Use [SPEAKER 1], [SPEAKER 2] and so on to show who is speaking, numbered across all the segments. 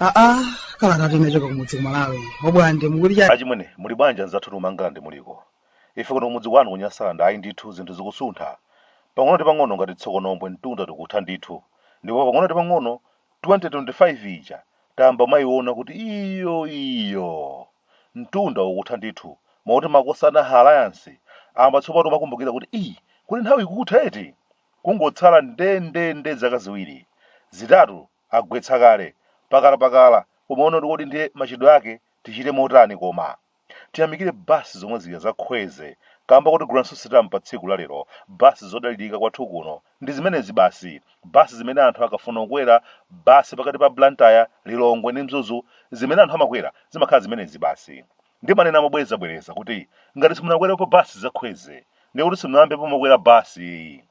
[SPEAKER 1] aa kalata inachoka kumudzi kumalawi obwande mukuti chani achimwene muli bwanji
[SPEAKER 2] anzathu kumangalande muliko ife kuno kumudzi kwanu kunyasalande ayi ndithu zinthu zikusuntha pang'ono ndi pang'ono ngati tsokonombwe mtunda tikutha ndithu ndipo pang'ono ndi pang'ono 2025 ija tayamba kumayiona kuti iyo iyo mtunda ukutha ndithu mwakuti makosana a alliance ayamba tsopano kumakumbukira kuti ii kodi nthawi ikutha eti kungotsala ndendende zaka ziwiri zitatu agwetsa kale pakalapakala kumaona kuti kodi ndiye machitidwe ake tichite motani koma Tiyamikire bus zomwe zija za Kwezy kamba kotiguliranso sitampa tsiku la lero bus zodalilika kwathu kuno ndi zimenezi basi bus zimene anthu akafuna kukwera bus pakati pa Blantyre, Lilongwe ndi Mzuzu zimene anthu amakwera zimakhala zimenezi basi ndimanena mobwereza bwereza kuti ngati simunakwerepo bus za Kwezy ndiye kuti simunayambepo mwakwera bus ayi.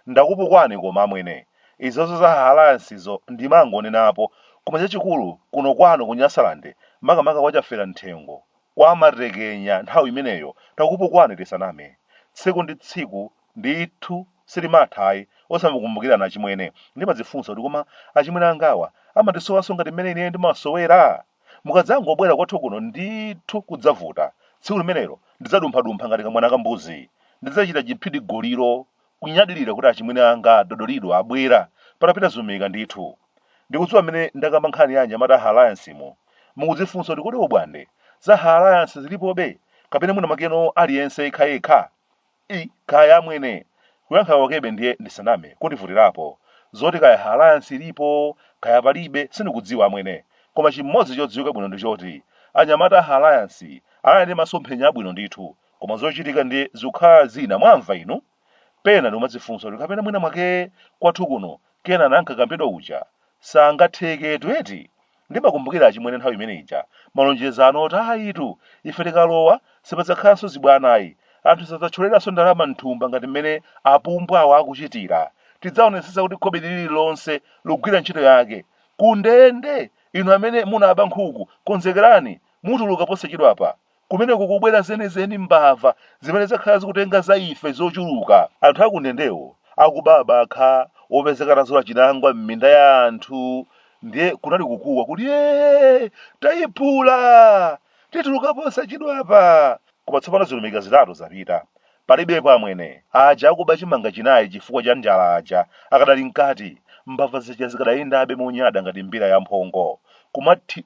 [SPEAKER 2] Ndakupukwani koma amwene. Izozo za alliance zo ndimangonenapo koma chachikulu kuno kwanu ku Nyasaland makamaka kwa Chafera Mthengo kwa matekenya nthawi imeneyo takupukwani tisaname. Tsiku ndi tsiku ndithu silimatha ayi osamakumbukirana achimwene. Ndimadzifunsa kuti koma achimwene angawa amatisowanso ngati mmene ineyo ndimasowera? Mukadzangobwera kwathu kuno ndithu kudzavuta. Tsiku limenelo ndidzadumphadumpha ngati kamwana ka mbuzi. Ndidzachita chiphidigoliro kunyadirira kuti achimwene anga a Dodolido abwera patapita zilumika ndithu. Ndikudziwa mmene ndakamba nkhani ya anyamata a alliance mo, mukudzifunsa kuti kodi obwande za alliance zilipobe kapena mwina mwakeno aliyense yekhayekha? ii kaya amwene kuyankha kwakebe ndiye ndisaname kundivutirapo zoti kaya alliance ilipo kaya palibe sindikudziwa amwene koma chimodzi chodziwika bwino ndichoti anyamata a alliance anali ndi masomphenya abwino ndithu koma zochitika ndiye zikukhala zina mwamva inu pena ndikumadzifunsa kuti kapena mwina mwake kwathu kuno Kenani ankakambidwa uja sangatheketu eti Ndimakumbukira achimwene nthawi imene ija, malonjezano oti ayitu, ife tikalowa, sipadzakhalanso zibwana ayi, anthu sadzatcholeranso ndalama m'thumba ngati m'mene apumbwawa akuchitira, tidzaonetsetsa kuti khobidi lililonse likugwira ntchito yake, kundende! Inu amene munaba nkhuku, konzekerani, mutuluka posachedwapa, Kumeneku kubwera zenizeni mbava zimene zakhala zikutenga za ife zochuluka. Anthu akundendewo akuba abakha opezeka atazula chinangwa m'minda ya anthu ndiye kunali kukuwa kuti ee! Tayiphula! Tituluka posachedwapa! Koma tsopano zilumika zitatu zapita. Palibepo amwene. Aja akuba chimanga chinayi chifukwa cha njala aja akadali mkati, mbava zija zikadayendabe monyada ngati mbira yamphongo, kumati,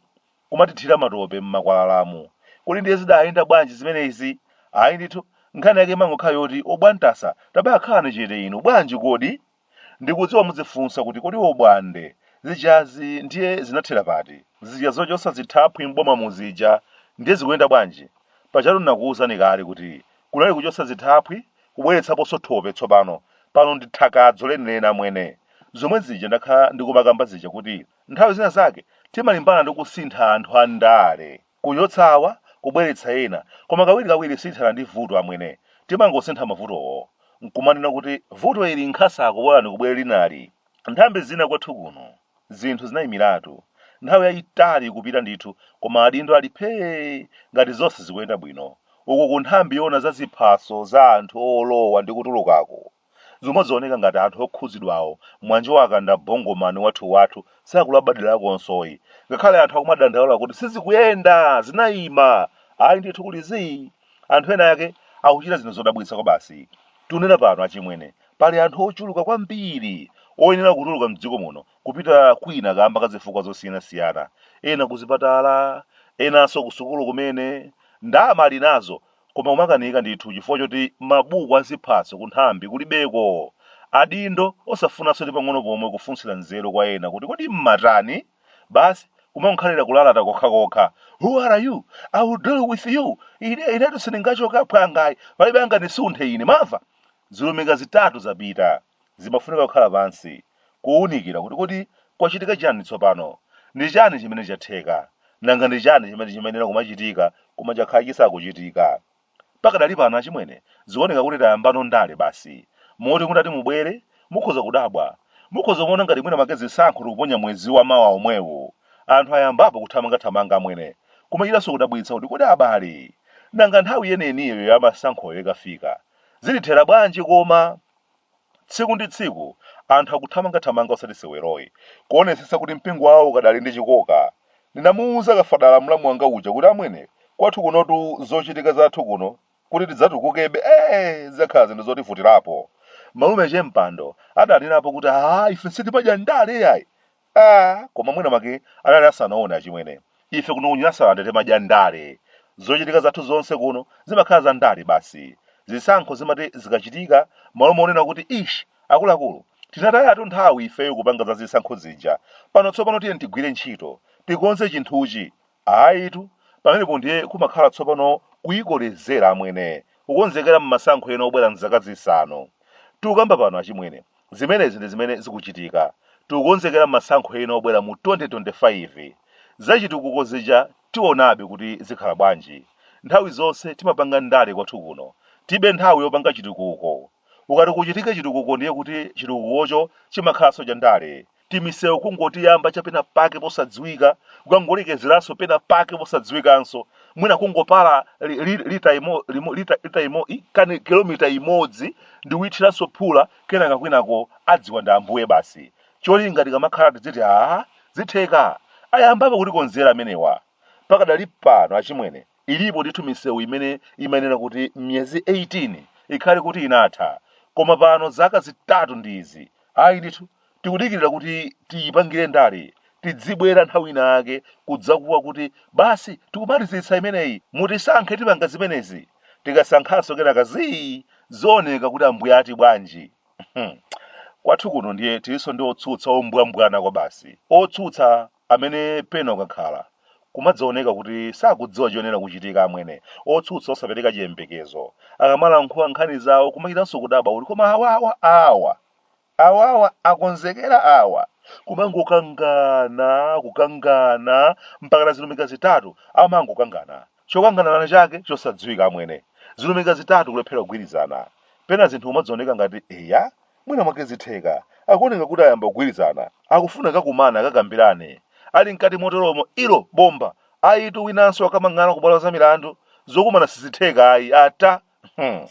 [SPEAKER 2] kumatithira matope m'makwalalamu. Kodi ndiye zidayenda bwanji zimenezi? Ayi ndithu, nkhani yake imangokhala yoti obwantasa tabakhalani chete inu, bwanji kodi? Ndikudziwa mudzifunsa kuti kodi obwande, zijazi ndiye zinathera pati? Zija zochotsa zithaphwi m'bomamu zija ndiye zikuyenda bwanji? Pajatu ndinakuuzani kale kuti kunali kuchotsa zithaphwi, kubweretsaponso thope tsopano, pano ndi thakadzo lenileni amwene. Zomwe zija ndakhala ndikumakamba zija kuti Nthawi zina zake timalimbana ndi kusintha anthu a ndale, kuchotsa awa, kubweretsa ena, koma kawirikawiri sitithana ndi vuto amwene, timangosintha mavutowo, nkumanena kuti vuto ili nkhasako bolani kubwere linali. Nthambi zina kwathu kuno zinthu zinayimiratu nthawi yayitali kupita ndithu koma adindo ali phee ngati zonse zikuyenda bwino, uku ku nthambi yoona za ziphaso za anthu olowa ndi kutulukako, Zimaoneka ngati anthu okhudzidwawo mwanjowaka nda bongoman wathuwathu sakulabadirakonsoyi ngakhale anthu akumadandaula kuti sizikuyenda zinaima ayi ndithu kuli zii anthu ena ake akuchita zinthu zodabwitsa kwabasi tiunena pano achimwene pali anthu ochuluka kwambiri oyenera kutuluka mdziko muno kupita kwina kamba ka zifukwa zosiyanasiyana ena kuzipatala enanso kusukulu kumene ndama ali nazo Koma kumakanika ndithu chifukwa choti mabuku a ziphaso ku nthambi kulibeko. Adindo osafunanso ndi pang'ono pomwe kufunsira nzeru kwa ena kuti kodi mmatani? Basi kumangokhalira kulalata kokhakokha. Who are you? I will deal with you. Inetu sindingachoke aphwanga ayi. Palibe angandisunthe ine, mwamva? Zilumika zitatu zapita. Zimafunika kukhala pansi, kuwunikira kuti kodi kwachitika chani tsopano. Ndi chani chimene chatheka? Nanga ndi chani chimene chimayenera kumachitika koma chakhala chisakuchitika? Pakadali pano achimwene, zioneka kuti tayambano ndale basi. Moti mutati mubwere, mukhoza kudabwa. Mukhoza kumaona ngati mwina mwake zisankho tikuponya mwezi wa mawa omwewu. Anthu ayambapo kuthamangathamanga amwene. Kumachitanso kudabwitsa kuti kodi abale, nanga nthawi yeniyeniyo ya masankhoyo ikafika, Zidzathera bwanji koma? Tsiku ndi tsiku anthu akuthamangathamanga osati seweroyi, kuonetsetsa kuti mpingo wawo ukadali ndi chikoka. Ndinamuuza Kafadala mlamu wanga uja kuti amwene, kwathu kunotu zochitika zathu kuno kuti tidzatukukebe zidzakhala zinthu zotivutirapo. Malume Chempando adanenerapo kuti, aa ife sitimadya ndale yayi! Aaa koma mwina mwake anali asanaone achimwene. Ife kuno ku Nyasaland timadya ndale. Zochitika zathu zonse kuno zimakhala za ndale basi. Zisankho zimati zikachitika malo monena kuti ish akuluakulu tinatayatu nthawi ifeyo kupanga za zisankho zija. Pano tsopano tiyeni tigwire ntchito. Tikonze chinthuchi. Ayitu, pamenepo ndiye kumakhala tsopano kuyikolezera amwene, kukonzekera mmasankho ena obwera mzaka zisanu. Tikukamba pano achimwene, zimenezi ndi zimene zikuchitika. Tikukonzekera masankho ena obwera mu 2025. Zachitukuko zija tiwonabe kuti zikhala bwanji. Nthawi zonse timapanga ndale kwathu kuno. Tilibe nthawi yopanga chitukuko. Ukati kuchitike chitukuko ndiye kuti chitukukocho chimakhalanso cha ndale. timisewu kungotiyamba cha pena pake posadziwika kukangolekezeranso pena pake posadziwikanso mwina kungopala li- li- lita imo- limo- lita- lita imo- i- kani kilomita imodzi ndi kuyithiranso phula kenaka kwinako adziwa ndi ambuye basi cholinga tikamakhala tidziti aa zitheka ayambapo kutikonzera amenewa pakadali pano achimwene ilipo ndithu misewu imene imayenera kuti miyezi 18 ikhale kuti inatha koma pano zaka zitatu ndi izi ayi ndithu tikudikirira kuti tiyipangire ndale tidzibwera nthawi ina yake kudzakuwa kuti basi tikumalizitsa imeneyi mutisankhe tipanga zimenezi tikasankhanso kenaka zii zooneka kuti ambuye ati bwanji Hmm. kwathu kuno ndiye tilinso ndi otsutsa ombwambwana kwabasi otsutsa amene pena ukakhala kumadzaoneka kuti sakudziwa chomwe chikuchitika amwene otsutsa osapereka chiyembekezo akamalankhula nkhani zawo kumachitanso kudabwa kuti koma awawa awa Awawa akonzekera awa, kumangokangana kukangana mpakana zilumika zitatu amangokangana chokangana chake chosadziwika amwene zilumika zitatu kulephera kugwirizana pena zinthu kumadzaoneka ngati eya mwina mwake zitheka akuoneka kuti ayamba kugwirizana akufuna akakumane akakambirane ali mkati motoromo ilo bomba ayitu winanso akamang'ala kubwalo za milandu zokumana sizitheka ayi ata Hmm.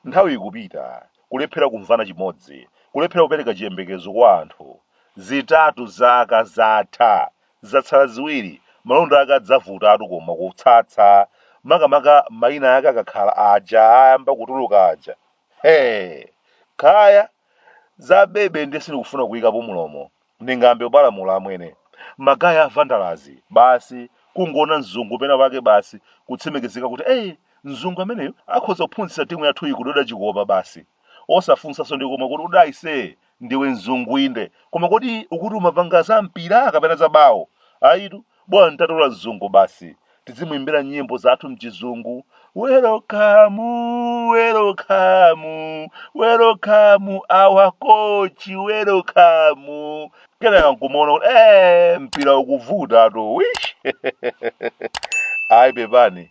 [SPEAKER 2] Nthawi ikupita, kulephera kumvana chimodzi, kulephera kupereka chiyembekezo kwa anthu. Zitatu zaka zatha, zatsala ziwiri, malonda ake adzavutatu koma kutsatsa, makamaka mayina ake akakhala aja ayamba kutuluka aja. Hee! Kaya! Za bebe ndiye sindikufuna kuyikapo mlomo. Ndingayambe kupalamula amwene. Magaya a vandalazi, basi kungoona mzungu pena pake basi kutsimikizika kuti ei mzungu ameneyo akhoza kuphunzitsa timu yathuyi kutenga chikopa basi. Osafunsanso ndi komwe kuti kodi ayise ndiwe mzungu inde koma kodi ukuti umapanga za mpira kapena za bawo? Ayitu Bola tatola mzungu basi. Tizimuimbira nyimbo zathu mchizungu. Welcome, welcome, welcome our coach, welcome. Kenaka nkumaona kuti eh mpira ukuvutatu. Wish. Ayi pepani.